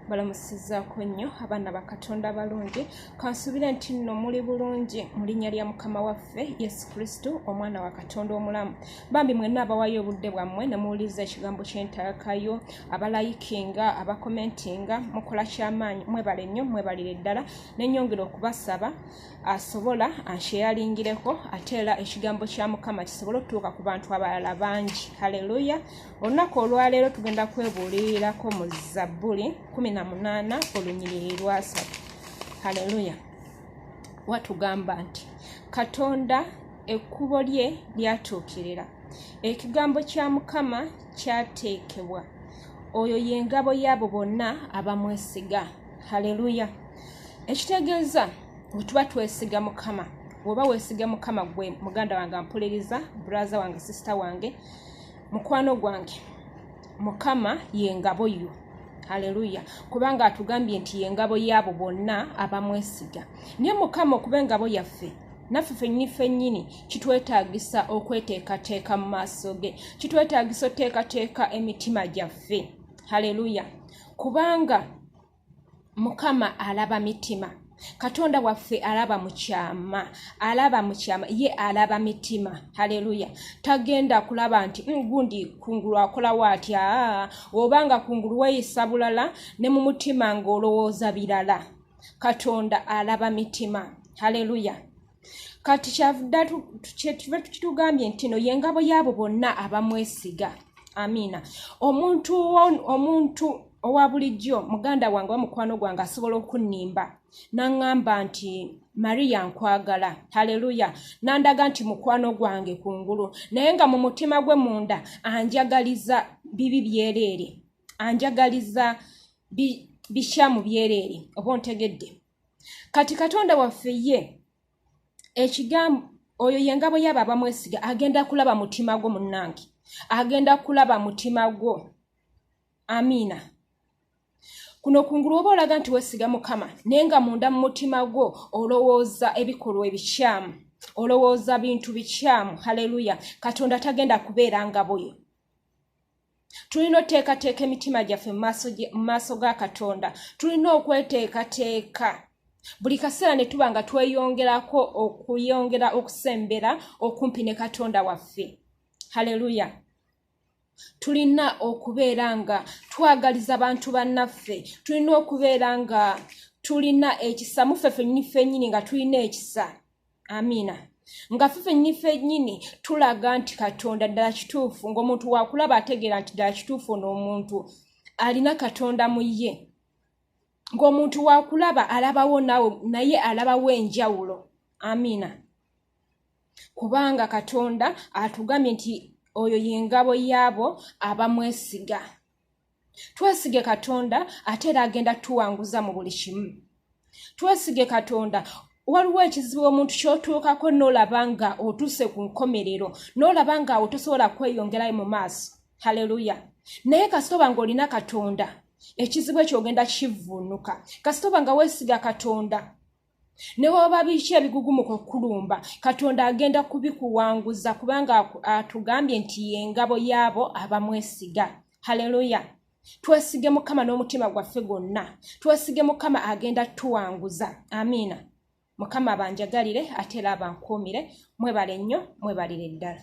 balamusizaako nnyo abaana ba katonda abalungi kansuubire nti nno muli bulungi mu linnya lya mukama waffe yesu kristo omwana wa katonda omulamu bambi mwenna abawayo obudde bwammwe ne muwuliriza ekigambo ky'entalakayo abalayikinga abakomentinga mukola ky'amaanyi mwebale nnyo mwebalire ddala nenyongera okubasaba asobola ansheyalingireko ate era ekigambo kya mukama kisobole okutuuka ku bantu abalala bangi halleluya olunaku olwaleero tugenda kwebuulirirako mu zabbuli 18 olunyiriri lwasatu haleluya watugamba nti katonda ekkubo lye lyatuukirira ekigambo kya mukama kyateekebwa oyo ye ngabo yaabo bonna abamwesiga haleluya ekitegeeza wetuba twesiga mukama woba wesiga mukama gwe muganda wange ampuliriza braza wange sisita wange mukwano gwange mukama yengabo yo haleluya kubanga atugambye nti yengabo yaabo bonna abamwesiga naye mukama okuba engabo yaffe naffe fennyini fennyini kitwetaagisa okweteekateeka mu maaso ge kitwetaagisa oteekateeka emitima gyaffe haleluya kubanga mukama alaba mitima katonda waffe alaba mukyama alaba mukyama ye alaba mitima haleluya tagenda kulaba nti mm, gundi kungulu akolawo atya oba nga kungulu weyisa bulala ne mu mutima ng'olowooza birala katonda alaba mitima haleluya kati kyavudde kyetuve tukitugambye nti no yengabo yaabo bonna abamwesiga amiina omuntu omuntu owa bulijjo muganda wange wa mukwano gwange asobola okunnimba naŋŋamba nti mariya nkwagala haleluya nandaga nti mukwano gwange ku ngulu naye nga mu mutima gwe munda anjagaliza bibi byereere anjagaliza bikyamu byereere oba ontegedde kati katonda waffe ye ekigambo oyo yengabo yaba abamwesiga agenda kulaba mutima gwo munange agenda kulaba mutima gwo amiina kuno kungulu oba olaga nti wesiga mukama naye nga munda mu mutima gwo olowooza ebikolwa ebikyamu olowooza bintu bikyamu haleluya katonda tagenda kubeera ngaboyo tulina oteekateeka emitima gyaffe mu maaso ga katonda tulina okweteekateeka buli kaseera ne tuba nga tweyongerako okuyongera okusembera okumpi ne katonda waffe haleluya tulina okubeera nga twagaliza bantu bannaffe tulina okubeera nga tulina ekisa muffe fennyini fennyini nga tulina ekisa amiina nga fe fennyini fennyini tulaga nti katonda ddala kituufu ng'omuntu wakulaba ategeera nti ddala kituufu n'omuntu alina katonda mu ye ng'omuntu wakulaba alabawo nawe naye alabawo enjawulo amiina kubanga katonda atugambye nti oyo y'engabo yaabo abamwesiga twesige katonda ate era agenda tuwanguza mu buli kimu twesige katonda waliwo ekizibu omuntu kyotuukako nolaba nga otuuse ku nkomerero nolaba nga awo tosobola kweyongerayo mu maaso haleluya naye kasitoba ngaolina katonda ekizibu ekyo ogenda kivvuunuka kasitoba nga weesiga katonda ne waba biki ebigugumuka okukulumba katonda agenda kubikuwanguza kubanga atugambye nti yengabo yaabo abamwesiga haleluya twesige mukama n'omutima gwaffe gwonna twesige mukama agenda tuwanguza amiina mukama abanjagalire ate era abankuumire mwebale nnyo mwebalire ddala